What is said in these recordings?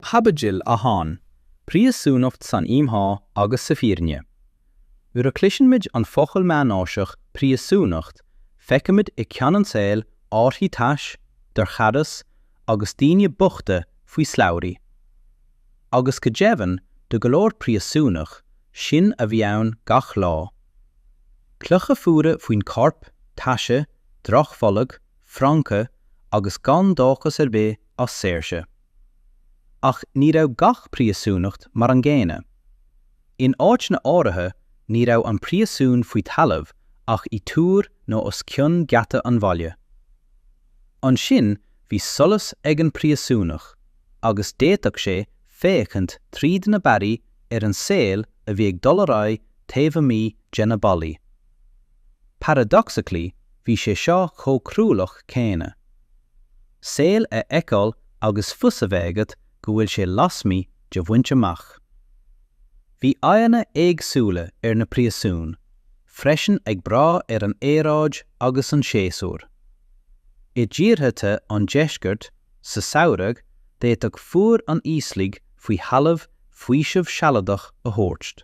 Caibidil 1, Príosúnacht san Íomhá agus sa Bhfírinne. Nuair a chloisimid an focal meánaoiseach 'príosúnacht' feicimid i gceann an tsaoil áirithí tais, dorchadas agus daoine bochta faoi slabhraí. Agus go deimhin do go leor príosúnach, sin a bhí ann gach lá. Clocha fuara faoin corp, taise, drochbholg, francaigh agus gan dóchas ar bith as saoirse. Ach ní raibh gach príosúnacht mar an gcéanna. In áiteanna áirithe ní raibh an príosún faoi thalamh ach i dtúr nó os cionn geata an bhaile. Ansin bhí solas ag an bpríosúnach agus d'fhéadfadh sé féachaint tríd na barraí ar an saol a bhí ag dul ar aghaidh taobh amuigh de na ballaí. Paradoxically bhí sé seo chomh cruálach céanna. Saol a fheiceáil agus fios a bheith agat go bhfuil sé lasmuigh de bhaint amach. Bhí aghaidheanna éagsúla ar na príosúin freisin ag brath ar an aeráid agus an séasúr. I dtíortha the an deiscirt, sa samhradh, d'fhéadfadh fuar an íoslaigh faoi thalamh faoiseamh sealadach a thabhairt.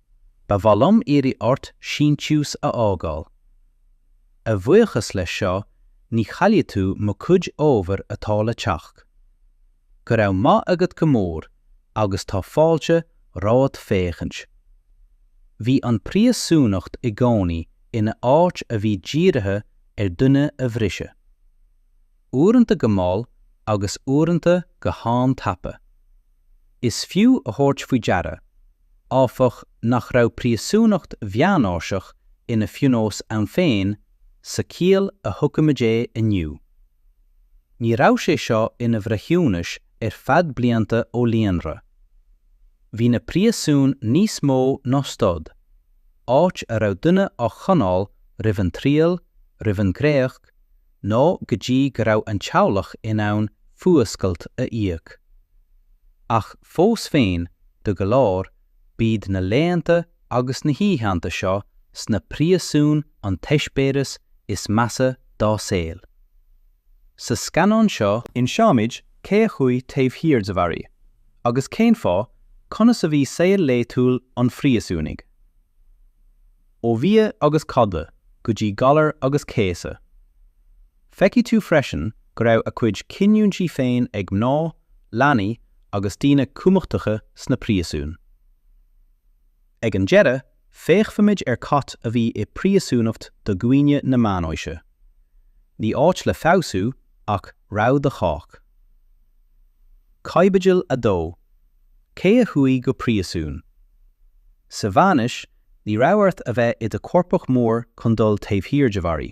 Ba mhaith liom iarraidh ort síntiús a fhágáil. A bhuíochas leis seo ní chaillfidh tú mo chuid ábhair atá le teacht. Go raibh maith agat go mór agus tá fáilte romhat féachaint. Bhí an phríosúnacht i gcónaí ina áit a bhí dírithe ar dhuine a bhriseadh. Uaireanta go mall agus uaireanta go han-tapa. Is fiú a thabhairt faoi deara, áfach, nach raibh príosúnacht mheánaoiseach ina phionós ann féin sa chiall a thuigimid é inniu. Ní raibh sé seo ina bhreithiúnas ar feadh blianta ó líonra. Bhí na príosúin níos mó ná stad, áit a raibh duine á choinneáil roimh an triail, roimh an gcréacht, nó go dtí go raibh an teaghlach in ann fuascailt a íoc. Ach fós féin, do go leor, b'iad na laethanta agus na hoícheanta seo sna príosúin an t-eispéireas is measa dá saol. Sa scannán seo, inseoimid cé a chuaigh taobh thiar de bharraí agus cén fáth, conas a bhí saol laetúil an phríosúnaigh. Ó bhia agus codladh go dtí galar agus céasadh. Feicfidh tú freisin go raibh a cuid cinniúintí féin ag mná, leanaí agus daoine cumachtacha sna príosúin. Ag an deireadh, féachfaimid ar cad a bhí i bpríosúnacht do dhaoine na meánaoise. Ní áit le feabhsú ach rabhadh do chách. Caibidil 2. Cé a chuaigh go príosún? Sa Mheánaois, Ní raibh ort a bheith i do choirpeach mór chun dul taobh thiar de bharraí.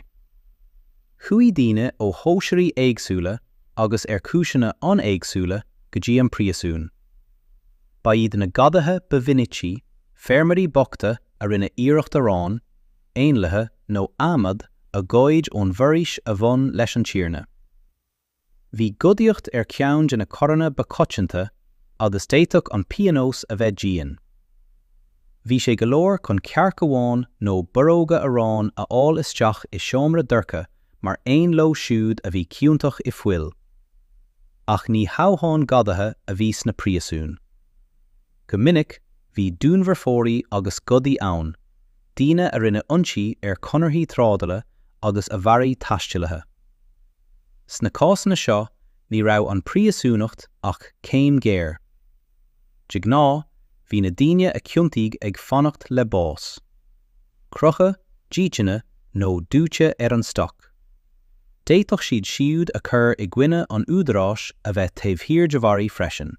Chuaigh daoine ó chóisirí éagsúla agus ar chúiseanna an-éagsúla go dtí an príosún. Ba iad na gadaithe ba mhinicí, feirmeoirí bochta a rinne iarracht arán, éanlaithe nó adhmad a ghoid ón bhforaois a bhain leis an tiarna. Bhí gadaíocht ar cheann de na coireanna ba choitianta agus d'fhéadfadh an pionós a bheith dian. Bhí sé go leor chun cearc amháin nó borróga aráin a fháil isteach i seomra dorcha mar aon leo siúd a bhí ciontach i fuil. Ach ní hamháin gadaithe a bhí sna príosúin. Go minic bhí dúnmharfóirí agus gadaí ann, daoine a rinne ionsaí ar chonarthaí trádala agus a mharaigh taistealaithe. Sna cásanna seo, ní raibh an phríosúnacht ach céim ghearr. De ghnáth, bhí na daoine a ciontaíodh ag fanacht le bás. Crochadh, dícheannadh nó dóite ar an stoc. D'fhéadfadh siad siúd a chuir i gcoinne an údaráis a bheith taobh thiar de bharraí freisin.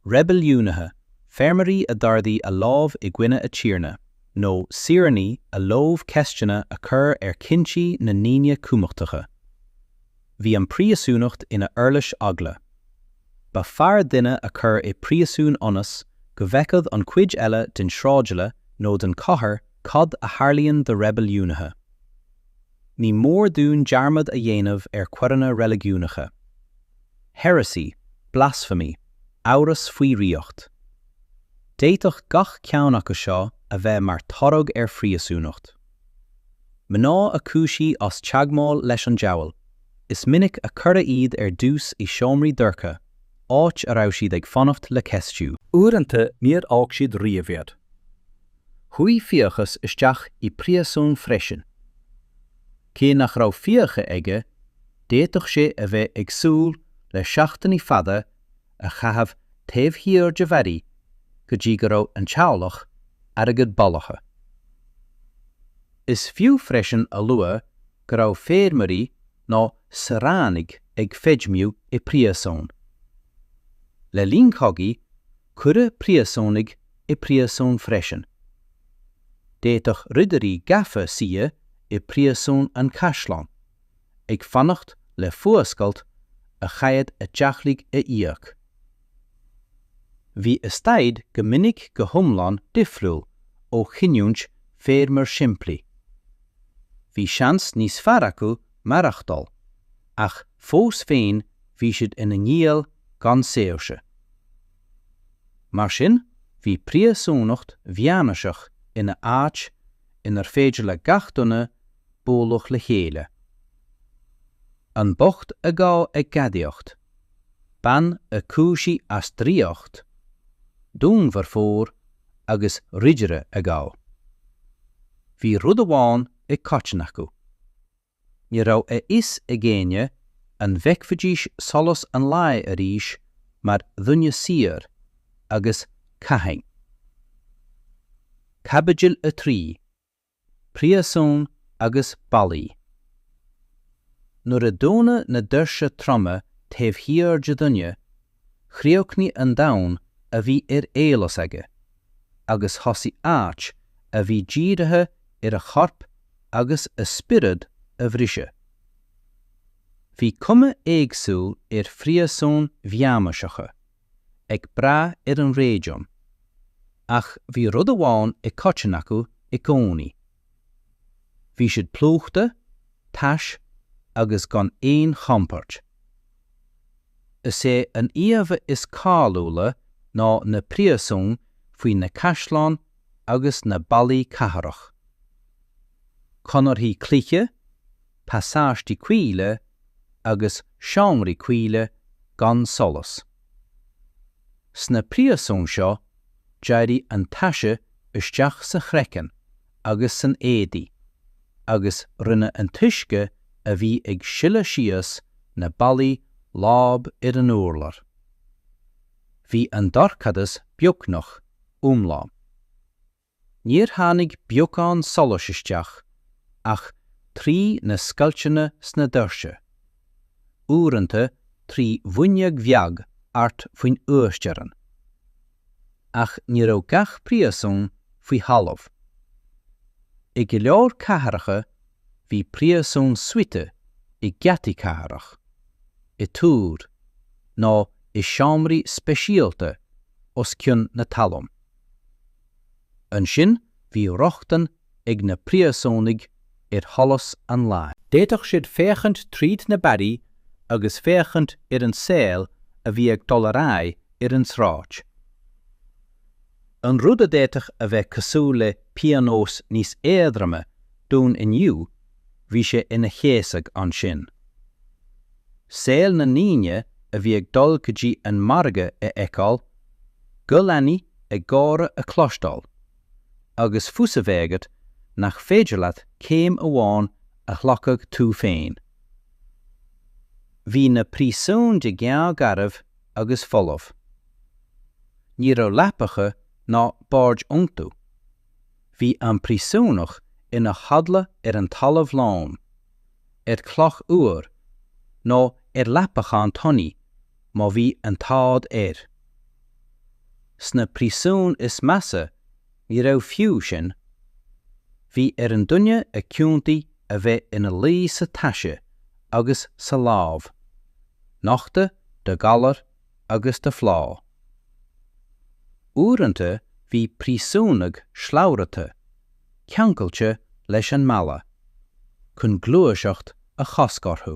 Reibiliúnaithe, feirmeoirí a d'ardaigh a lámh i gcoinne a tiarna. nó saoránaigh a leomh ceisteanna a chur ar chinntí na ndaoine cumachtacha. Bhí an phríosúnacht ina huirlis eagla. Ba fearr duine a chur i bpríosún ionas go bhfeicfeadh an chuid eile den sráidbhaile nó den chathair cad a tharlaíonn do reibiliúnaithe. Ní mór dúinn dearmad a dhéanamh ar choireanna reiligiúnacha. Heresy, blasphemy, amhras faoi dhraíocht. D'fhéadfadh gach ceann acu seo a bheith mar thoradh ar phríosúnacht. Mná a cúisíodh as teagmháil leis an diabhal, is minic a cuireadh iad ar dtús i seomraí dorcha, áit a raibh siad ag fanacht le ceistiú. Uaireanta níor fhág siad riamh iad. Chuaigh fiachas isteach i bpríosún freisin. Cé nach raibh fiacha aige, d'fhéadfadh sé a bheith ag súil le seachtainí fada a chaitheamh taobh thiar de bharraí go dtí go raibh an teaghlach airgead bailithe. Is fiú freisin a lua go raibh feirmeoirí nó saoránaigh ag feidhmiú i bpríosún. Le linn chogaidh, Cuireadh príosúnaigh i bpríosún freisin. D'fhéadfadh Ridirí Gafa suí i bPríosún an Chaisleáin, ag fanacht le fuascailt a chaith a dteaghlaigh a íoc. Bhí a staid go minic go hiomlán difriúil ó chinniúint feirmeoir simplí. Bhí seans níos fearr acu maireachtáil ach fós féin bhí siad ina ngiall gan saoirse. Mar sin, bhí príosúnacht mheánaoiseach ina áit inar féidir le gach duine bualadh le chéile. An bocht a gabhadh ag gadaíocht, bean a cúisíodh as draíocht, dúnmharfóir agus ridire a gabhadh. Bhí rud amháin i coiteann acu. Ní raibh a fhios ag éinne an bhfeicfidís solas an lae arís mar dhuine saor, agus cathain. Caibidil 3, Príosún agus Ballaí Nuair a dúnadh na doirse troma taobh thiar de dhuine chríochnaigh an domhan a bhí ar eolas aige agus thosaigh áit a bhí dírithe ar a chorp agus a spiorad a bhriseadh. Bhí cuma éagsúil ar phríosúin mheánaoiseacha, ag brath ar an réigiún, ach bhí rud amháin i coiteann acu i gcónaí, Bhí siad plúchta, tais agus gan aon chompord. Is é an íomha is cáiliúla ná na príosúin faoi na caisleáin agus na ballaí cathrach. Conarthaí cloiche, pasáistí caoile agus seomraí caoile gan solas. Sna príosúin seo, d'éirigh an taise isteach sa chraiceann agus san éadaí, agus rinne an t-uisce a bhí ag sileadh síos na ballaí láib ar an urlár. Bhí an dorchadas beagnach iomlán. Níor tháinig beagán solais isteach ach trí na scoilteanna sna doirse, uaireanta trí fhuinneog bheag thart faoin uasteorainn. Ach ní raibh gach príosún faoi thalamh. I go leor cathracha bhí príosúin suite i geataí cathrach, i dtúir, nó i seomraí speisialta os cionn na talún. Ansin bhí rochtain ag na príosúnaigh ar sholas an lae. D'fhéadfadh siad féachaint tríd na barraí agus féachaint ar an saol a bhí ag dul ar aghaidh ar an tsráid. An rud a d'fhéadfadh a bheith cosúil le pionós níos éadroime dúinn inniu bhí sé ina chéasadh ansin. Saol na ndaoine a bhí ag dul go dtí an margadh a fheiceáil, guth leanaí ag gáire a chloisteáil, agus fios a bheith agat nach féidir leat céim amháin a ghlacadh tú féin. Bhí na príosúin de ghnáth garbh agus folamh. Ní raibh leapacha ná boird iontu. Bhí an príosúnach ina chodladh ar an talamh lom, ar chloch fhuar, nó ar leapachán tanaí má bhí an t-ádh air. Sna príosúin is measa ní raibh fiú sin. Bhí ar an duine a ciontaíodh a bheith ina luí sa taise agus sa láib, nochta do ghalar agus de phlá. Uaireanta bhí príosúnaigh slabhraithe, ceangailte leis an mballa, chun gluaiseacht a chosc orthu.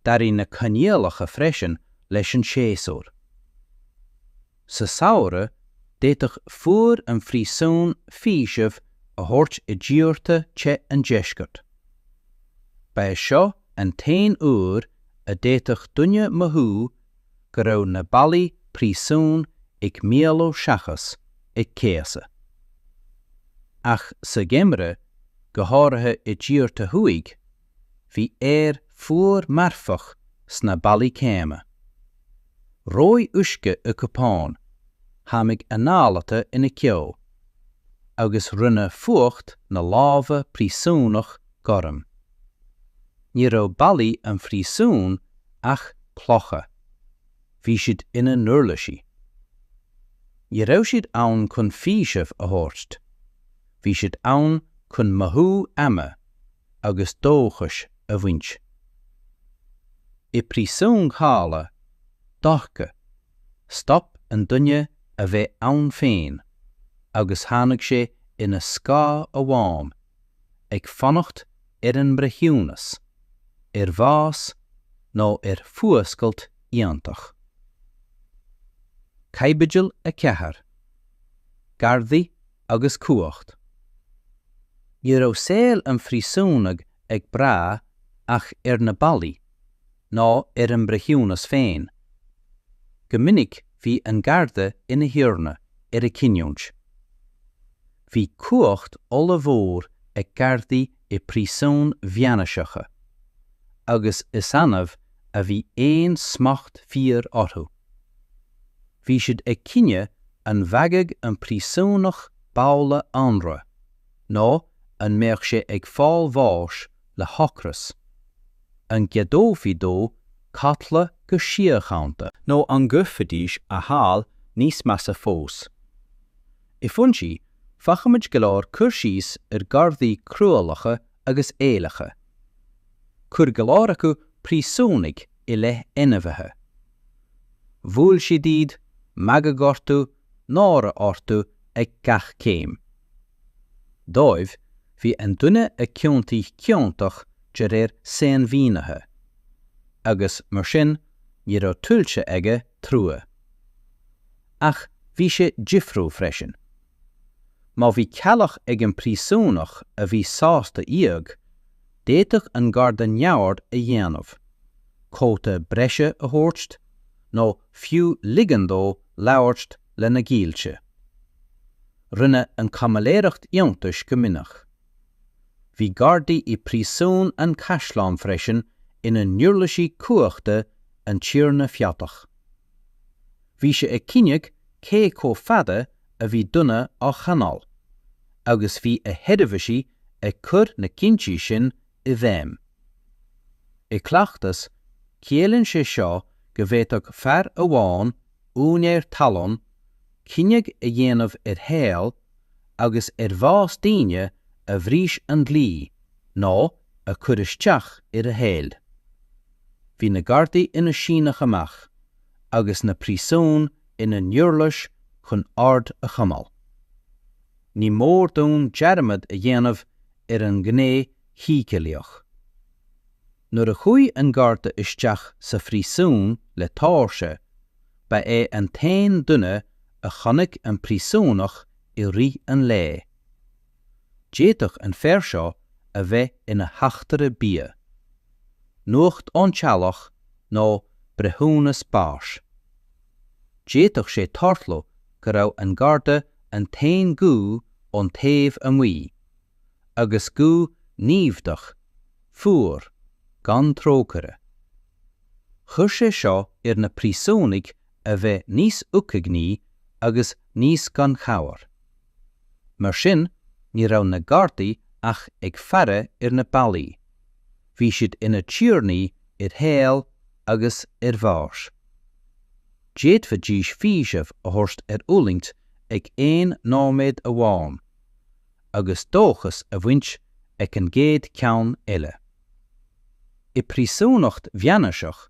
D'athraigh na coinníollacha freisin leis an séasúr. Sa samhradh, d'fhéadfadh fuaire an phríosúin faoiseamh a thabhairt i dtíortha te an deiscirt. Ba é seo an t-aon uair a d'fhéadfadh duine mothú go raibh na ballaí príosúin ag maolú seachas ag céasadh. Ach sa gheimreadh, go háirithe i dtíortha thuaidh, bhí aer fuar marfach sna ballaí céanna. Reoigh uisce i gcupán, tháimig anáil ata ina ceo, agus rinne fuacht na láimhe príosúnach gorm. Ní raibh ballaí an phríosúin ach clocha. Bhí siad ina n-uirlisí. Ní raibh siad ann chun faoiseamh a thabhairt. Bhí siad ann chun mothú ama, agus dóchais a bhaint. I bpríosún shalach, dhorcha, stop an duine a bheith ann féin agus tháinig sé ina scáth amháin, ag fanacht ar an mbreithiúnas, ar bhás nó ar fhuascailt iontach. Caibidil 4. Gardaí agus cumhacht. Ní raibh saol an phríosúnaigh ag brath ach ar na ballaí, ná ar an mbreithiúnas féin. Go minic bhí an garda ina thiarna ar a chinniúint. Bhí cumhacht ollmhór ag gardaí i bpríosúin mheánaoiseacha, agus is annamh a bhí aon smacht fíor orthu. Bhí siad ag cinneadh an bhfaigheadh an príosúnach babhla anraith nó an mbeadh sé ag fáil bháis le hocras. An gceadófaí dó codladh go síochánta? Nó an gcuirfidís a shaol níos measa fós? I bhfoinsí, faighimid go leor cur síos ar ghardaí cruálacha agus éillitheacha. Chuir go leor acu príosúnaigh i leith ainmhithe. Bhuail siad iad, magadh orthu, náire orthu ag gach céim. Dóibh, bhí an duine a ciontaíodh ciontach de réir sainmhínithe. Agus, mar sin, ní raibh tuillte aige trua. Ach bhí sé difriúil freisin. Má bhí teaghlach ag an bpríosúnach a bhí sásta íoc, d'fhéadfadh an garda neamhaird a dhéanamh, cóta breise a thabhairt, nó fiú ligean dó labhairt lena ghaolta. Rinne an chaimiléireacht iontais go minic. Bhí gardaí i bpríosún an chaisleáin freisin ina n-uirlisí cumhachta an tiarna feodach. Bhí sé ag cinneadh cé chomh fada a bhí duine á choinneáil, agus bhí a sheirbhísigh ag cur na cinntí sin i bhfeidhm. I gcleachtas, ciallaíonn sé seo go bhféadfadh fear amháin, úinéir talún, cinneadh a dhéanamh ar shaol agus ar bhás daoine a bhris an dlí nó a chuir isteach ar a shaol. Bhí na gardaí ina síneadh amach, agus na príosúin ina n-uirlis chun ord a choimeáil. Ní mór dúinn dearmad a dhéanamh ar an ngné shíceolaíoch. Nuair a chuaigh an garda isteach sa phríosún le tóirse, ba é an t-aon duine a chonaic an príosúnach i rith an lae. D'fhéadfadh an fear seo a bheith ina theachtaire bia, nuacht ón teaghlach nó breithiúnas báis. D'fhéadfadh sé tarlú go raibh an garda an t-aon ghuth ón taobh amuigh, agus guth naimhdeach, fuar, gan trócaire. Chuir sé seo ar na príosúnaigh a bheith níos uaigní agus níos gan chabhair. Mar sin, ní raibh na Gardaí ach ag faire ar na ballaí, bhí siad ina dtiarnaí ar shaol agus ar bhás. D'fhéadfaidís faoiseamh a thabhairt ar fhulaingt ag aon nóiméad amháin, agus dóchas a bhaint ag an gcéad cheann eile. I bpríosúnacht mheánaoiseach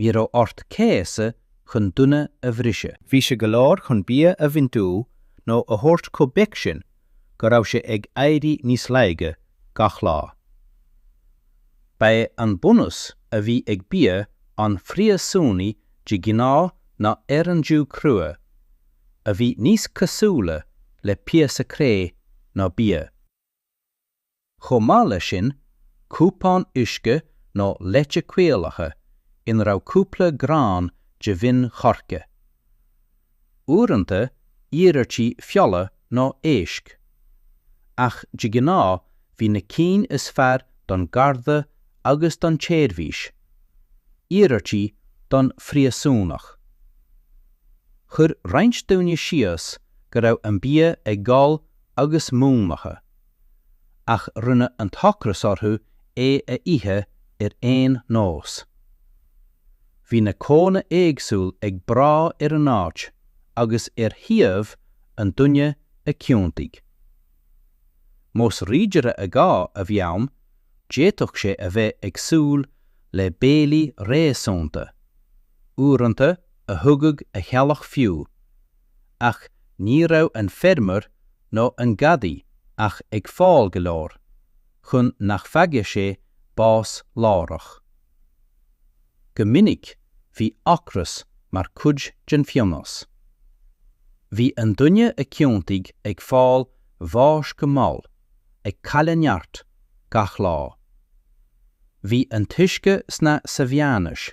Ní raibh ort céasadh chun duine a bhriseadh. Bhí sé go leor chun bia a bhaint uaidh nó a thabhairt chomh beag sin go raibh sé ag éirí níos laige gach lá. Ba é an bunús a bhí ag bia an phríosúnaigh de ghnáth ná arán dubh crua, a bhí níos cosúla le píosa cré ná bia. Chomh maith leis sin, cupán uisce nó leite caolaithe ina raibh cúpla grán de mhin choirce. Uaireanta, iarmhairtí feola nó éisc. Ach de ghnáth bhí na cinn is fearr don gharda agus don tseirbhís. Iarmhairtí don phríosúnach. Chuir roinnt daoine síos go raibh an bia ag gol agus múnlaithe. ach rinne an t-ocras orthu é a ithe ar aon nós. Bhí na codanna éagsúil ag brath ar an áit agus ar shuíomh an duine a ciontaíodh. Más ridire a gabhadh a bhí ann, d'fhéadfadh sé a bheith ag súil le béilí réasúnta, uaireanta a thugadh a theaghlach fiú, ach ní raibh an feirmeoir nó an gadaí ach ag fáil go leor chun nach bhfaigheadh sé bás láithreach. Go minic bhí ocras mar chuid den phionós. Bhí an duine a ciontaíodh ag fáil bháis go mall, ag cailleadh neart, gach lá. Bhí an t-uisce sna sa mheánaois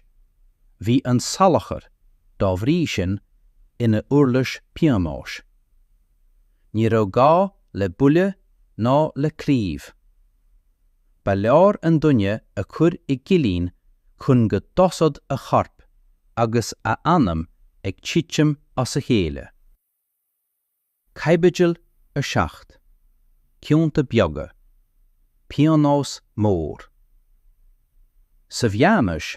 bhí an salachar, dá bhrí sin, ina uirlis pionóis. Ní raibh gá le buille ná le claíomh. Ba leor an duine a chur i gcillín chun go dtosódh a chorp agus a anam ag titim as a chéile. Caibidil 7, Cionta beaga, pionós mór. Sa mheánaois,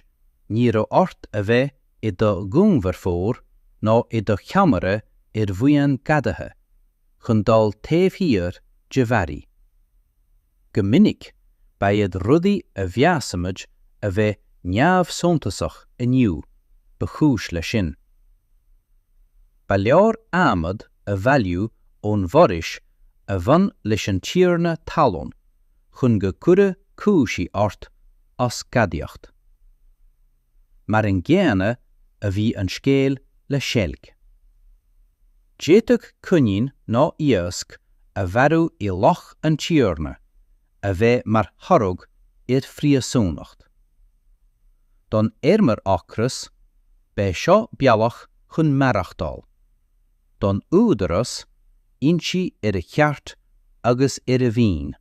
ní raibh ort a bheith i do dhúnmharfóir nó i do cheannaire ar bhuíon gadaithe chun dul taobh thiar de bharraí. Go minic, ba iad rudaí a mheasaimid a bheith neamhshuntasach inniu ba chúis leis sin. Ba leor adhmad a bhailiú ón bhforaois a bhain leis an tiarna talún chun go gcuirfí cúisí ort as gadaíocht. Mar an gcéanna a bhí an scéal le seilg. D'fhéadfadh coinín nó iasc a mharú i loch an tiarna a bheith mar thoradh ar phríosúnacht. Don fheirmeoir ocrach, b'é seo bealach chun maireachtáil. don údarás ionsaí ar a cheart agus ar a mhaoin.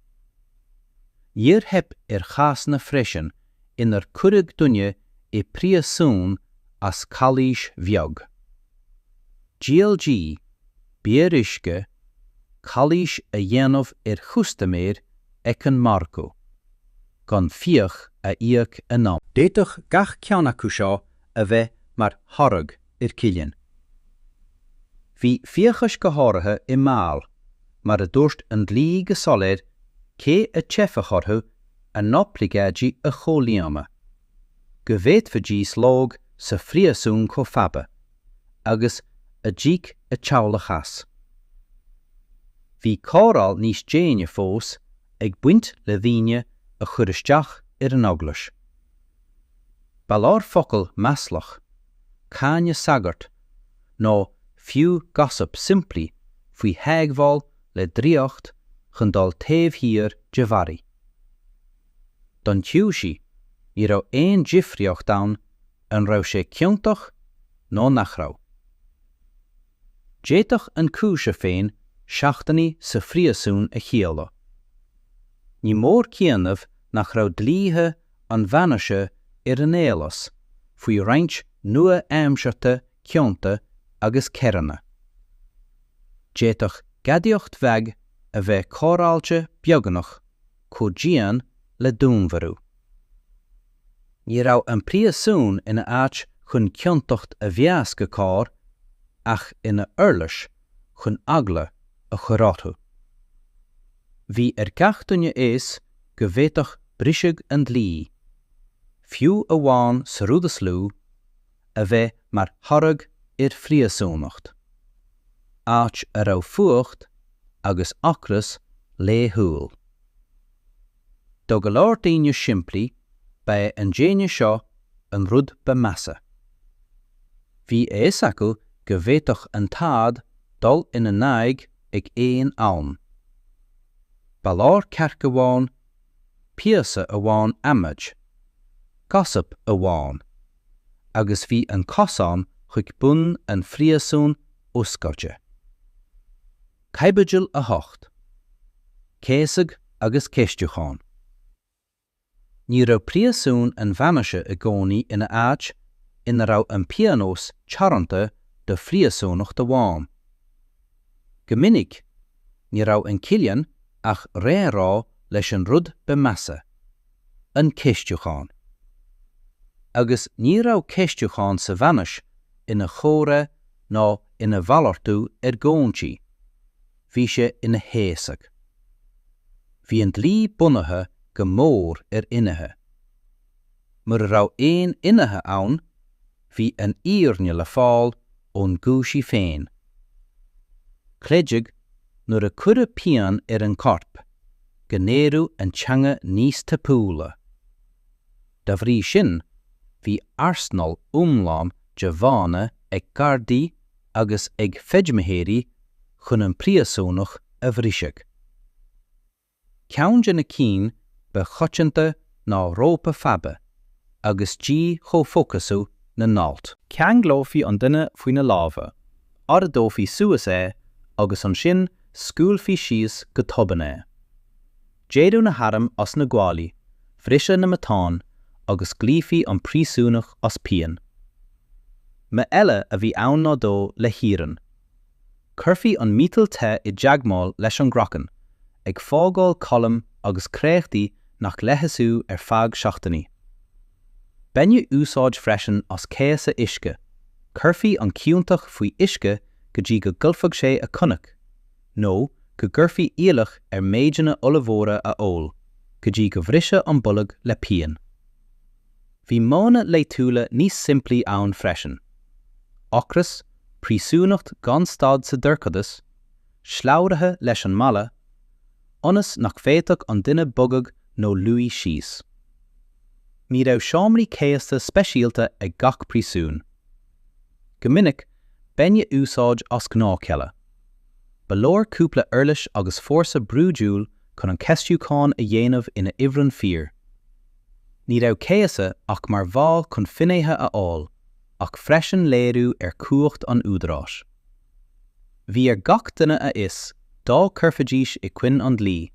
Níor theip ar chásanna freisin inar cuireadh duine i bpríosún as calaois bheag. GLG beoir uisce, calaois a dhéanamh ar chustaiméir ag an margadh, gan fiach a íoc in am. D'fhéadfadh gach ceann acu seo a bheith mar thoradh. ar chillín. Bhí fiachais go háirithe i mbaol, mar a dúirt an dlí go soiléir, cé a theipfeadh orthu a n-oibleagáidí a chomhlíonadh, go bhféadfaidís lobhadh sa phríosún chomh fada agus a d'íoc a teaghlach as. Bhí cóireáil níos déine fós ag baint le daoine a chur isteach ar an Eaglais. Ba leor focal maslach cáineadh sagart, nó fiú gossip simplí faoi theagmháil le draíocht chun dul taobh thiar de bharraí. Don chúisí, ní raibh aon difríocht ann an raibh sé ciontach nó nach raibh. D'fhéadfadh an cúiseamh féin seachtainí sa phríosún a chiallú. Ní mór cuimhneamh nach raibh dlíthe na meánaoise ar an eolas faoi roinnt nua-aimseartha cionta agus coireanna. D'fhéadfadh gadaíocht bheag a bheith cóireáilte beagnach chomh dian le dúnmharú. Ní raibh an príosún ina áit chun ciontacht a mheas go cóir ach ina uirlis chun eagla a chur orthu. Bhí ar gach duine fhios go bhféadfadh briseadh an dlí, fiú amháin sa rud is lú, a bheith mar thoradh ar phríosúnacht, áit a raibh fuacht agus ocras laethúil. Do go leor daoine simplí, ba é an déine seo an rud ba mheasa. Bhí a fhios acu go bhféadfadh an t-ádh dul ina n-aghaidh ag aon am. Ba leor cearc amháin, píosa amháin adhmaid, gossip amháin, agus bhí an cosán chuig bun an phríosúin oscailte. Caibidil 8. Céasadh agus ceistiúchán Ní raibh príosún an Mheánaoise i gcónaí ina áit ina raibh an pionós teoranta do phríosúnacht amháin. Go minic, ní raibh an cillín ach réamhrá leis an rud ba mheasa. an ceistiúchán. Agus ní raibh ceistiúchán sa Mheánaois ina chomhrá ná ina mhalartú argóintí, bhí sé ina chéasadh. Bhí an dlí bunaithe go mór ar fhinnéithe. Mura raibh aon fhinnéithe ann, bhí an fhírinne le fáil ón gcúisí féin. Creideadh, nuair a cuireadh pian ar an gcorp, go n-éireodh an teanga níos tapúla. Dá bhrí sin, bhí arsenal iomlán de mhodhanna ag Gardaí agus ag feidhmitheoirí chun an príosúnach a bhriseadh. Ceann de na cinn ba choitianta ná rópa faibe agus dí-chomhfhocasú na n-alt. Cheanglófaí an duine faoi na lámha, ardófaí suas é agus ansin scaoilfí síos go tobann é. D'éireodh na hairm as na guaillí bhriseadh na matáin agus ghlaofaí an príosúnach as pian. Modh eile a bhí ann ná dó le hiarann. Cuirfí an miotal te i dteagmháil leis an gcraiceann, ag fágáil colm agus créachtaí nach leigheasfaí ar feadh seachtainí. Baineadh úsáid freisin as céasadh uisce, cuirfí an ciontach faoi uisce go dtí go gcaillfeadh sé a choinneach, nó go gcuirfí iallach air méideanna ollmhóra a ól, go dtí go bhriseadh an bolg le pian. Bhí modhanna laethúla níos simplí ann freisin, ocras, príosúnacht gan stad sa dorchadas, slabhraithe leis an mballa, ionas nach bhféadfadh an duine bogadh nó luí síos. Ní raibh seomraí céasta speisialta ag gach príosún. Go minic, baineadh úsáid as gnáthchealla. Ba leor cúpla uirlis agus fórsa brúidiúil chun an ceistiúchán a dhéanamh ina ifreann fíor. Ní raibh céasadh ach mar mhodh chun finnéithe a fháil, ach freisin léiriú ar chumhacht an údaráis. Bhí ar gach duine a fhios, dá gcuirfidís i gcoinne an dlí,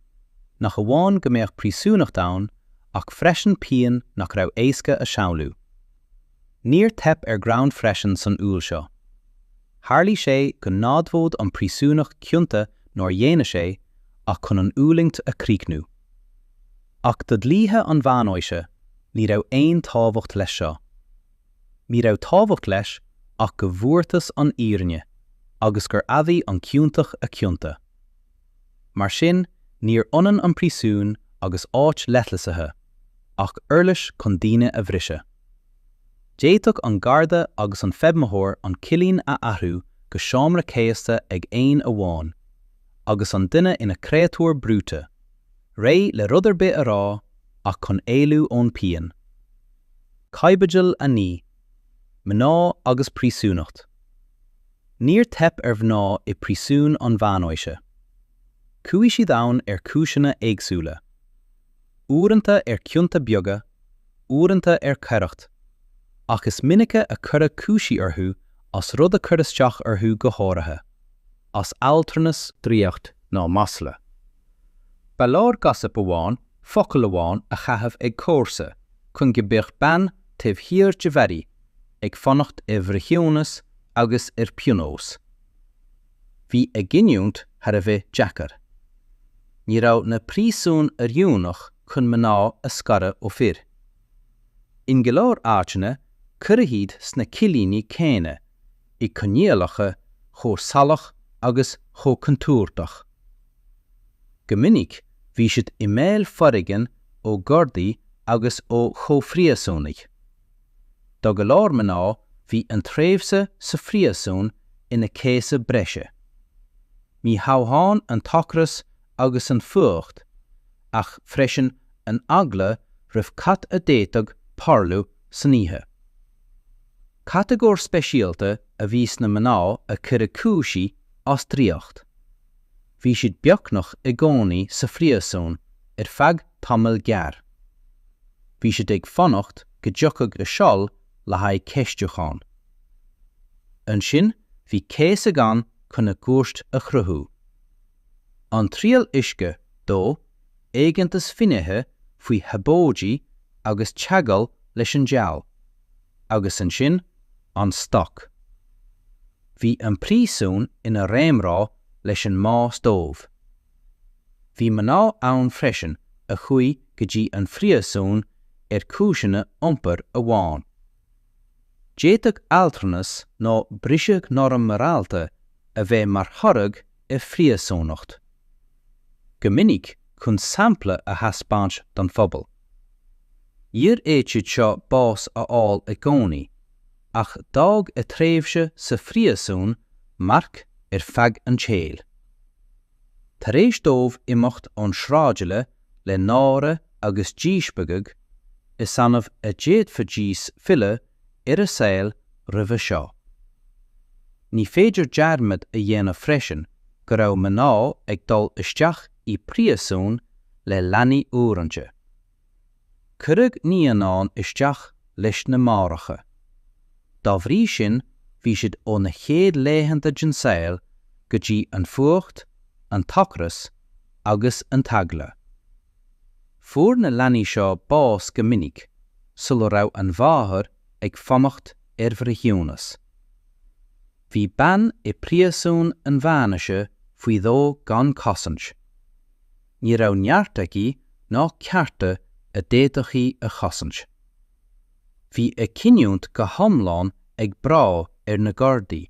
nach amháin go mbeadh príosúnacht ann, ach freisin pian nach raibh éasca a shamhlú. Níor theip ar ghreann freisin san uail seo. Tharlaigh sé go n-admhódh an príosúnach cionta nár dhéanadh sé ach chun an fhulaingt a chríochnú. Ach do dhlíthe an mheánaoise ní raibh aon tábhacht leis seo. Ní raibh tábhacht leis ach go bhfuarthas an fhírinne agus gur admhaigh an ciontach a chionta. Mar sin níor ionann an príosún agus áit leithlisithe ach uirlis chun daoine a bhriseadh. D'fhéadfadh an garda agus an feidhmitheoir an cillín a athrú go seomra céasta ag aon amháin agus an duine ina chréatúr brúite, réidh le rud ar bith a rá ach chun éalú ón bpian. Caibidil 9, Mná agus príosúnacht Níor theip ar mhná i bpríosúin an mheánaoise. Chuaigh siad ann ar chúiseanna éagsúla. Uaireanta ar chionta beaga, uaireanta ar choireacht, ach is minice a cuireadh cúisí orthu as rud a chuir isteach orthu go háirithe, as adhaltranas, draíocht ná masla. Ba leor gossip amháin, focal amháin a chaitheamh ag comharsa chun go mbeadh bean taobh thiar de bharraí ag fanacht ar bhreithiúnas agus ar phionós. Bhí a gcinniúint thar a bheith deacair. Ní raibh na príosúin oiriúnach chun mná a scaradh ó fir. In go leor áiteanna, cuireadh iad sna cillíní céanna i gcoinníollacha chomh salach agus chomh contúirteach. Go minic bhí siad i mbaol foréigin ó ghardaí agus ó chomhphríosúnaigh. Do go leor mná bhí an tréimhse sa phríosún ina céasadh breise. Ní hamháin an t-ocras agus an fuacht ach freisin an eagla roimh cad a d'fhéadfadh tarlú san oíche. Catagóir speisialta a bhí sna mná a cuireadh cúisí as draíocht. Bhí siad beagnach i gcónaí sa phríosún ar feadh tamaill ghearr. Bhí siad ag fanacht go dtiocfadh a seal le haghaidh ceistiúcháin. Ansin bhí céasadh ann chun a gcúirt a chruthú. an triail uisce dó, éigeantas finnéithe faoi shabóidí agus teagmháil leis an diabhal, agus ansin, an stoc. Bhí an príosún ina réamhrá leis an mbás dóibh. Bhí mná ann freisin a chuaigh go dtí an phríosún ar chúiseanna iompair amháin. D'fhéadfadh adhaltranas nó briseadh norm morálta a bheith mar thoradh ar phríosúnacht. Go minic, chun sampla a thaispeáint don phobal. Níor fhéad iad seo bás a fháil i gcónaí, ach d'fhág a tréimhse sa phríosún marc ar feadh an tsaoil. Tar éis dóibh imeacht ón sráidbhaile le náire agus díspeagadh, is annamh a d'fhéadfaidís filleadh ar a saol roimhe seo. Ní féidir dearmad a dhéanamh freisin go raibh mná ag dul isteach i bpríosún le leanaí uaireanta. Cuireadh naíonáin isteach leis na máithreacha. Dá bhrí sin bhí siad ó na chéad laethanta den saol go dtí an fuacht, an t-ocras agus an t-eagla. Fuair na leanaí seo bás go minic sula raibh an mháthair ag fanacht ar bhreithiúnas. Bhí bean i bpríosún an mheánaoise faoi dhó gan cosaint. Ní raibh neart aici ná cearta a d'fhéadfadh í a chosaint. Bhí a cinniúint go hiomlán ag brath ar na gardaí,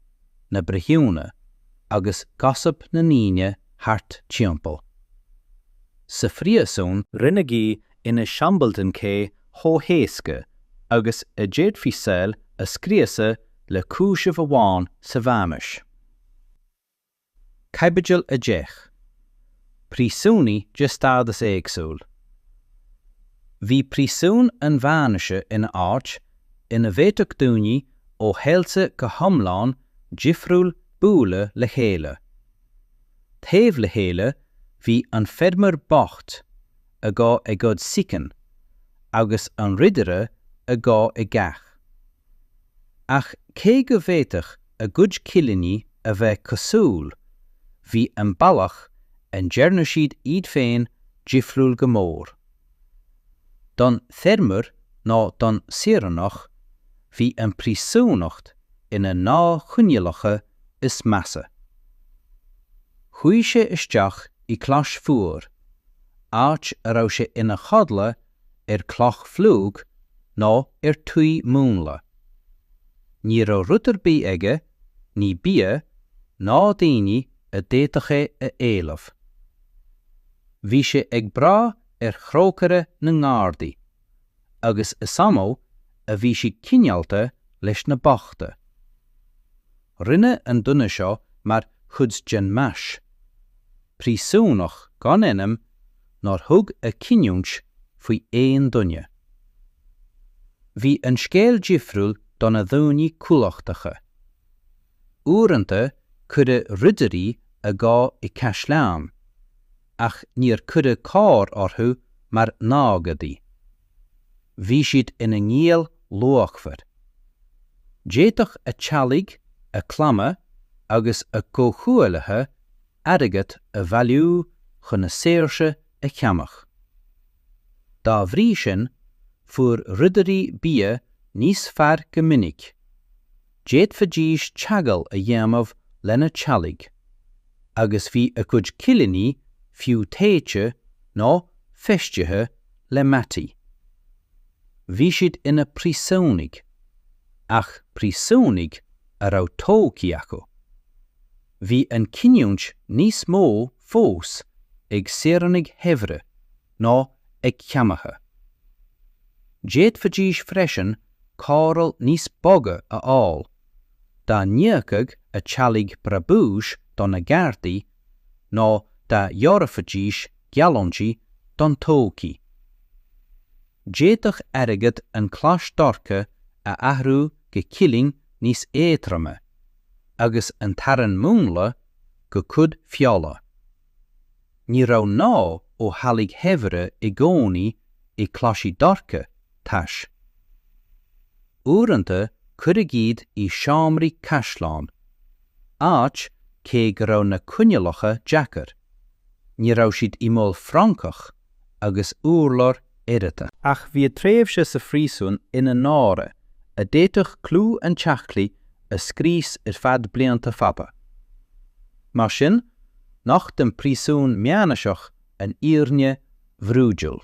na breithiúna agus gossip na ndaoine thart timpeall. Sa phríosún, rinneadh í ina siombail den cé chomh héasca agus a d'fhéadfaí saol a scriosadh le cúiseamh amháin sa mheánaois. Caibidil 10, Príosúnaigh de stádas éagsúil Bhí príosún an mheánaoise ina áit ina bhféadfadh daoine ó shaolta go hiomlán difriúil bualadh le chéile. Taobh le chéile bhí an feirmeoir bocht a gabhadh ag goid sicín agus an ridire a gabhadh i gcath. Ach cé go bhféadfadh a gcuid cillíní a bheith cosúil, bhí an bealach a ndearna siad iad féin difriúil go mór. Don feirmeoir nó don saoránach, bhí an príosúnacht ina na choinníollacha is measa. Chuaigh sé isteach i gclais fuar, áit a raibh sé ina chodladh ar chloch fhliuch ná ar thuí múnlach. Ní raibh rud ar bith aige, ní bia, ná daoine a d'fhéadfadh é a éileamh. Bhí sé ag brath ar thrócaire na ngardaí, agus is annamh a bhí siad cineálta leis na bochta. Rinne an duine seo mar chuid den mais. Príosúnach gan ainm nár thug a chinniúint faoi aon duine. Bhí an scéal difriúil do na daoine cumhachtacha. Uaireanta cuireadh ridirí i ngéibheann i gcaisleán ach níor caitheadh leo mar na gadaithe. bhí siad ina ngialla luachmhara. D'fhéadfadh a dteaghlaigh, a gclanna agus a gcomhghuaillithe airgead a bhailiú chun a saoirse a cheannach. Dá bhrí sin, fuair ridirí bia níos fearr go minic, d'fhéadfaidís teagmháil a dhéanamh lena dteaghlaigh, agus bhí a gcuid cillíní fiú téite nó feistithe le mataí. Bhí siad ina bpríosúnaigh, ach príosúnaigh a raibh todhchaí acu. Bhí an chinniúint níos mó fós ag saoránaigh shaibhre ná ag ceannaithe. D'fhéadfaidís freisin cóireáil níos boga a fháil, dá n-íocfadh a dteaghlaigh breabanna do na gardaí nó dá dtabharfaidís gealltanais don todhchaí. D'fhéadfadh airgead an chlais dhorcha a athrú go cillín níos éadroime, agus an t-arán múnlach go cuid feola. Ní raibh ná ó theaghlaigh shaibhre i gcónaí i gclaiseanna dorcha, tais. Uaireanta cuireadh iad i seomraí caisleáin, áit cé go raibh na coinniollacha deacair, ní raibh siad i mbaol francach agus urláir oighreata. Ach bhíodh tréimhse sa phríosún ina náire a d'fhéadfadh clú an teaghlaigh a scrios ar feadh blianta fada. Mar sin, nocht an príosún meánaoiseach an fhírinne bhrúidiúil.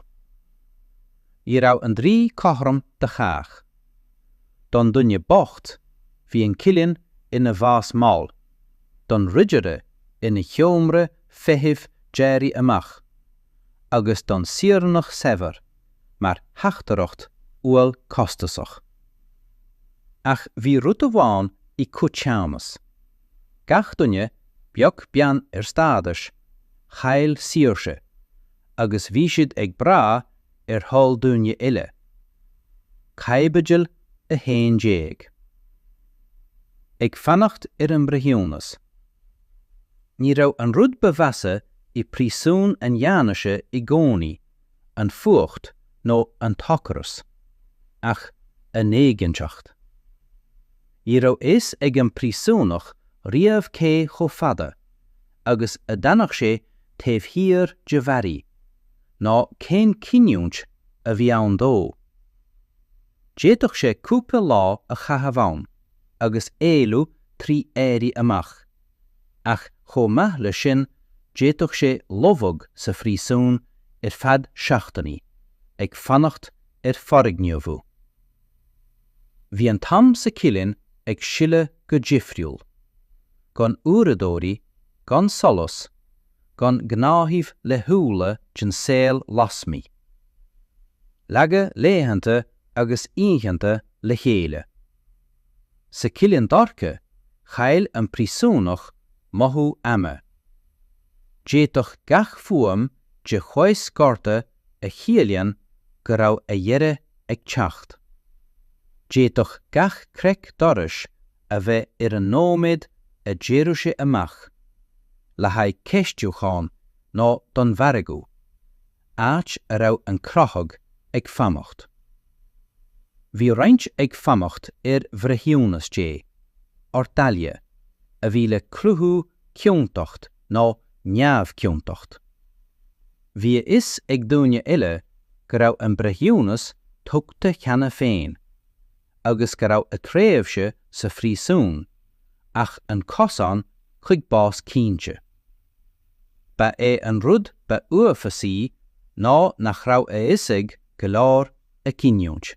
Ní raibh an dlí cothrom do chách. Don duine bocht, bhí an cillín ina bhás mall, don ridire ina sheomra feithimh d'éirí amach, agus don saoránach saibhir, mar theachtaireacht umhail costasach. Ach bhí rud amháin i gcoiteannas. Gach duine, beag beann ar stádas, chaill saoirse, agus bhí siad ag brath ar thoil daoine eile. Caibidil 11. Ag fanacht ar an mbreithiúnas. Ní raibh an rud ba mheasa i bpríosún an Mheánaoise i gcónaí, an fuacht nó an t-ocras, ach an éiginnteacht. Ní raibh a fhios ag an bpríosúnach riamh cé chomh fada agus a d'fhanfadh sé taobh thiar de bharraí, ná cén cinniúint a bhí ann dó. D'fhéadfadh sé cúpla lá a chaitheamh ann agus éalú trí éirí amach, ach chomh maith leis sin d'fhéadfadh sé lobhadh sa phríosún ar feadh seachtainí, ag fanacht ar forghníomhú. Bhí an t-am sa chillín ag sileadh go difriúil. Gan uaireadóirí, gan solas, gan gnáthaimh laethúla den saol lasmuigh. Leagadh laethanta agus oícheanta le chéile. Sa chillín dorcha, chaill an príosúnach mothú ama. D'fhéadfadh gach fuaim de chois garda a chiallaíonn go raibh a dheireadh ag teacht. D'fhéadfadh gach creic dorais a bheith ar an nóiméad a d'éireodh sé amach, le haghaidh ceistiúcháin nó don mhargadh, áit a raibh an crochadh ag fanacht. Bhí roinnt ag fanacht ar bhreithiúnas Dé, ordalia, a bhí le cruthú ciontacht nó neamhciontacht. Bhí a fhios ag daoine eile go raibh an breithiúnas tugtha cheana féin agus go raibh a tréimhse sa phríosún ach an cosán chuig bás cinnte. Ba é an rud ba uafásaí ná nach raibh a fhios ag go leor a cinniúint.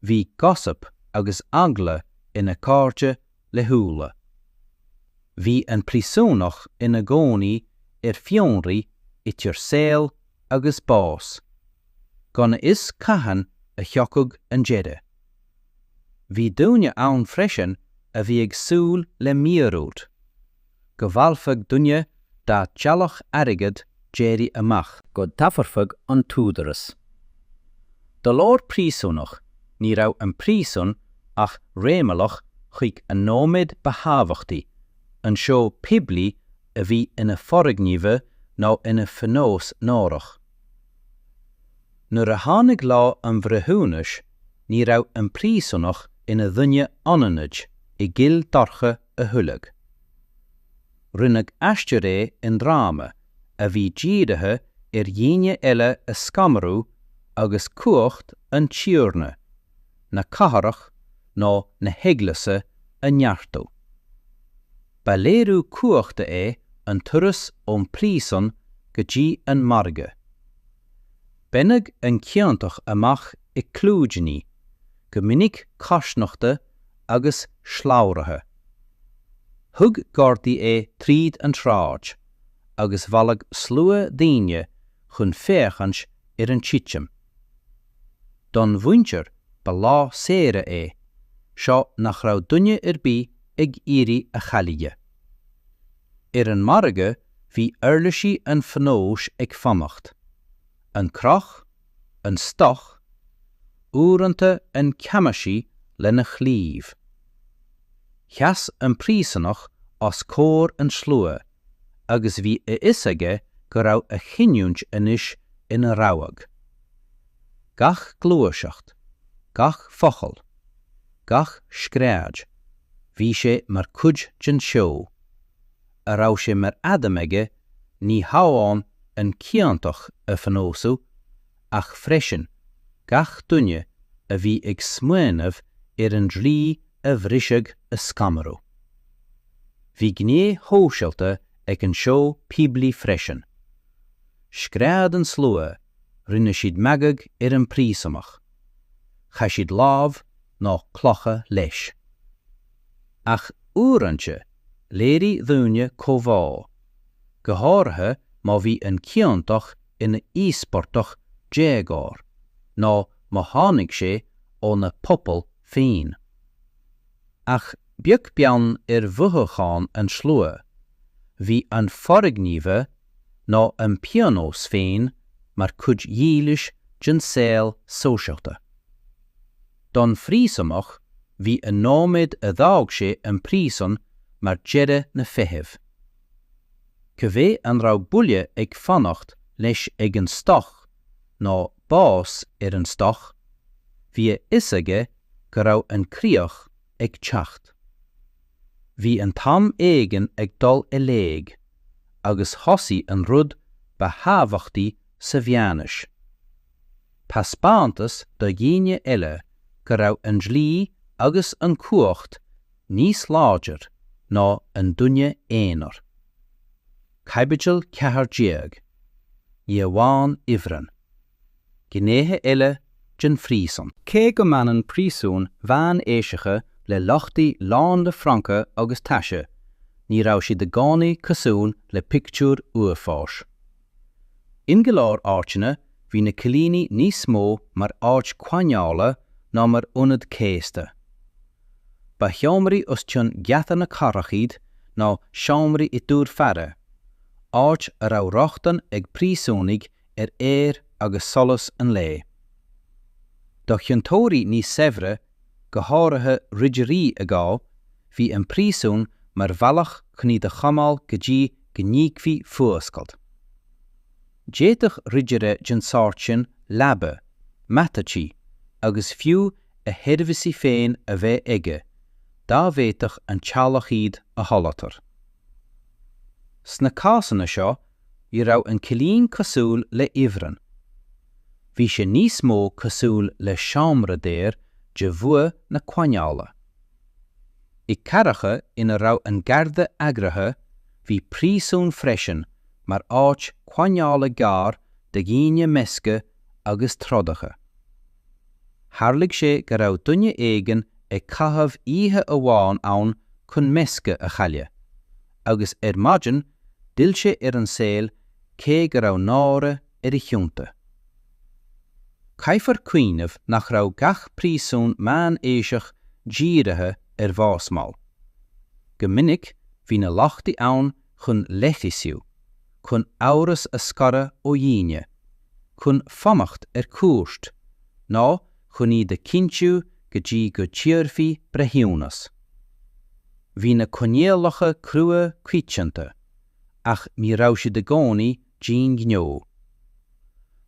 Bhí 'gossip' agus eagla ina gcairde laethúla. Bhí an príosúnach ina gcónaí ar fionraí idir saol agus bás, gan a fhios cathain a thiocfadh an deireadh. Bhí daoine ann freisin a bhí ag súil le míorúilt. go bhfailfeadh duine dá teaghlach airgead d'éirí amach, go dtabharfadh an t-údaras do leor príosúnach ní raibh an príosún ach réimeallach chuig an nóiméad ba thábhachtaí, an seó poiblí a bhí ina forghníomhú nó ina phionós náireach. Nuair a tháinig lá an bhreithiúnais ní raibh an príosúnach ina dhuine anaithnid i gcill dorcha a thuilleadh. Rinneadh aisteoir é i ndráma a bhí dírithe ar dhaoine eile a scanrú agus cumhacht an tiarna, na cathrach nó na heaglaise a neartú. Ba léiriú cumhachta é an turas ón bpríosún go dtí an margadh. Baineadh an ciontach amach i gclúidíní, go minic cosnochta agus slabhraithe. Thug gardaí é tríd an tsráid agus bhailigh slua daoine chun féachaint ar an titim. Don mhuintir ba lá saoire é seo nach raibh duine ar bith ag iarraidh a chailleadh. Ar an margadh bhí uirlisí an phionóis ag fanacht, an croch, an stoc, uaireanta an ceamaisí lena chlaíomh. Sheas an príosúnach os comhair an tslua agus bhí a fhios aige go raibh a chinniúint anois ina rabhadh. Gach gluaiseacht, gach focal, gach scread, bhí sé mar cuid den seó. a raibh sé mar aidhm aige ní hamháin an ciontach a phionósú ach freisin gach duine a bhí ag smaoineamh ar an dlí a bhriseadh a scanrú. Bhí gné shóisialta ag an seó poiblí freisin. Scread an slua, rinne siad magadh ar an bpríosúnach, chaith siad láib nó clocha leis. Ach uaireanta Léirigh daoine comhbhá, go háirithe má bhí an ciontach ina íospartach d'éagóir nó má tháinig sé óna phobal féin. Ach beag beann ar mhothúcháin an tslua, bhí an forghníomhú nó an pionós féin mar chuid dhílis den saol sóisialta. don phríosúnach bhí an nóiméad a d'fhág sé an príosún mar deireadh na feithimh. Cibé an raibh buille ag fanacht leis ag an stoc nó bás ar an stoc, bhí a fhios aige go raibh an críoch ag teacht. Bhí an t-am éigin ag dul i léig agus thosaigh an rud ba thábhachtaí sa mheánaois. taispeántas do dhaoine eile go raibh an dlí agus an chumhacht níos láidir ná an duine aonair. Caibidil 14, Ní amháin ifreann. Gnéithe eile den phríosún. Cé go mbaineann príosúin mheánaoiseacha le lochtaí lán le francaigh agus taise, ní raibh siad i gcónaí cosúil le pictiúir uafáis. In go leor áiteanna bhí na cillíní níos mó mar áit coinneála ná mar ionad céasta. Ba sheomraí os cionn geata na cathrach iad nó seomraí i dtúir faire, áit a raibh rochtain ag príosúnaigh ar aer agus solas an lae. Do chiontóirí níos saibhre go háirithe ridirí a gabhadh, bhí an príosún mar bhealach chun iad a choinneáil go dtí go n-íocfaí fuascailt. D'fhéadfadh ridire den sórt sin leaba, mata tuí, agus fiú a sheirbhísí féin a bheith aige, dá bhféadfadh an teaghlach iad a sholáthar. Sna cásanna seo, Ní raibh an cillín cosúil le ifreann. Bhí sé níos mó cosúil le seomra daor de bhua na coinneála. I gcathracha ina raibh an garda eagraithe, bhí príosún freisin mar áit coinneála gearr do dhaoine meisce agus trodacha. Tharlaigh sé go raibh duine éigin ag caitheamh oíche amháin ann chun meisce a chailleadh, agus ar maidin, D'fhill sé ar an saol cé go raibh náire ar a chionta. Caithfear cuimhneamh nach raibh gach príosún meánaoiseach dírithe ar bhás mall. Go minic bhí na lochtaí ann chun leithlisiú, chun amhras a scaradh ó dhaoine, chun fanacht ar cúirt, nó chun iad a chinntiú go dtí go dtabharfaí breithiúnas. Bhí na coinníollacha crua coitianta, ach ní raibh siad i gcónaí d'aon ghnó.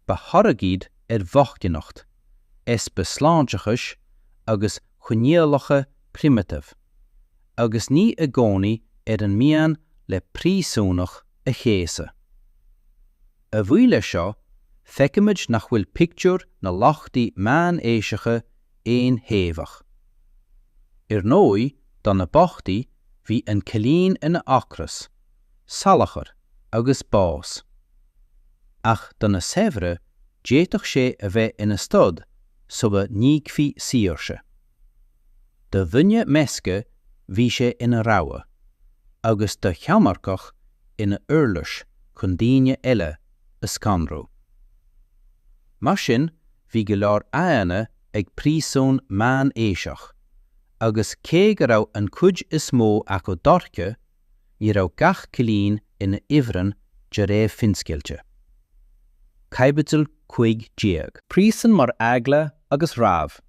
Ba thoradh iad ar bhochtaineacht, easpa sláinteachais agus coinníollacha primitive, agus ní i gcónaí ar an mian le príosúnach a chéasadh. A bhuí leis seo, feicimid nach bhfuil pictiúr na lochtaí meánaoiseacha aon-thaobhach. Ar ndóigh, do na bochtaí, bhí an cillín ina ocras, salachar agus bás. Ach do na saibhre, d'fhéadfadh sé a bheith ina stad sula n-íocfaí saoirse. Do dhuine measta bhí sé ina rogha, agus do cheannairceach ina uirlis chun daoine eile a scanrú. Mar sin bhí go leor aghaidheanna ag príosún meánaoiseach, agus cé go raibh an chuid is mó acu dorcha, ní raibh gach cillín ina ifreann de réir finscéalta. Caibidil 15. Príosún mar eagla agus rabhadh,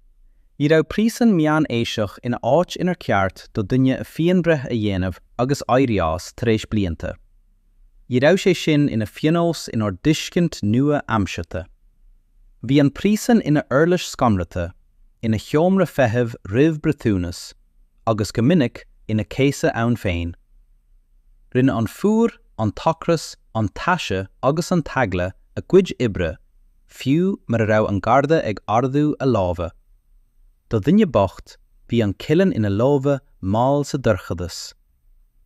Ní raibh príosún meánaoiseach ina áit inar ceart do dhuine a phianbhreith a dhéanamh agus éirí as tar éis blianta. Ní raibh sé sin ina phionós inár dtuiscint nua-aimseartha. Bhí an príosún ina uirlis scanraithe, ina sheomra feithimh roimh breithiúnas, agus go minic ina céasadh ann féin. Rinne an fuacht, an t-ocras, an taise agus an t-eagla a gcuid oibre, fiú mura raibh an garda ag ardú a láimhe. Do dhuine bocht, bhí an cillín ina lámh mhall sa dorchadas.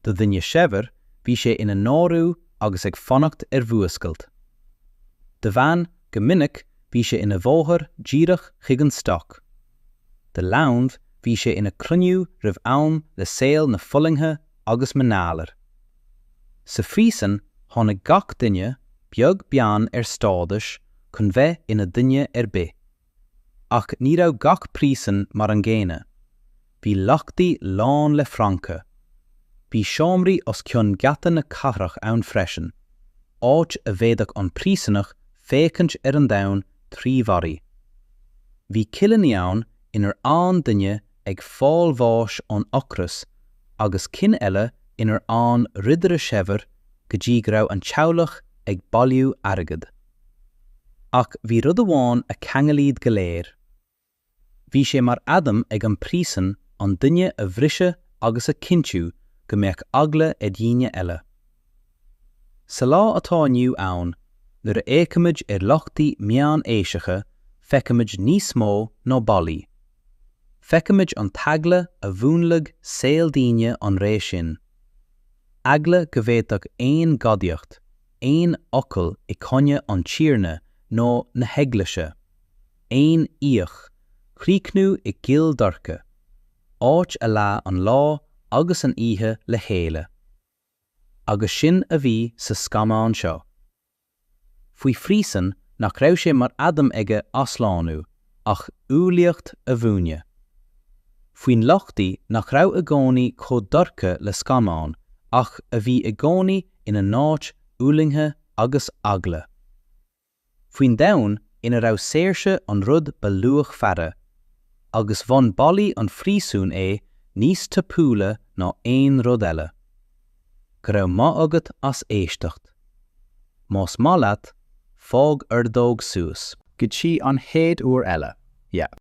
Do dhuine shaibhir, bhí sé ina náiriú agus ag fanacht ar fhuascailt. Do bhean, go minic, bhí sé ina bhóthar díreach chuig an stoc. Do leanbh, bhí sé ina chruinniú roimh am le saol na fulaingthe agus an ghalair. Sa phríosún, tháinig gach duine, beag beann ar stádas, chun bheith ina duine ar bith. Ach ní raibh gach príosún mar an gcéanna. Bhí lochtaí lán le francaigh. Bhí seomraí os cionn geata na cathrach ann freisin, áit a bhféadfadh an príosúnach féachaint ar an domhan trí bharraí. Bhí cillíní ann inar fhan duine ag fáil bháis ón ocras agus cinn eile inar fhan ridire saibhir go dtí go raibh an teaghlach ag bailiú airgid. Ach bhí rud amháin a cheangail iad go léir. Bhí sé mar aidhm ag an bpríosún an duine a bhriseadh agus a chinntiú go mbeadh eagla ar dhaoine eile. Sa lá atá inniu ann, nuair a fhéachaimid ar lochtaí meánaoiseacha feicimid níos mó ná ballaí. Feicimid an t-eagla a mhúnlaigh saol daoine an ré sin. Eagla go bhféadfadh aon ghadaíocht, aon fhocal i gcoinne an Tiarna nó na hEaglaise, aon fhiach, chríochnú i gcill dorcha, áit a leáigh an lá agus an oíche le chéile. Agus sin a bhí sa scannán seo. Faoi phríosún nach raibh sé mar aidhm aige athshlánú ach umhlaíocht a mhúineadh. Faoin lochtaí nach raibh i gcónaí chomh dorcha le scannáin ach a bhí i gcónaí ina n-áit fhulaingthe agus eagla. faoin domhan ina raibh saoirse an rud ba luachmhaire, agus bhain ballaí an phríosúin é níos tapúla ná aon rud eile. Go raibh maith agat as éisteacht. Más maith leat, fág ordóg suas. go dtí an chéad uair eile, yeah.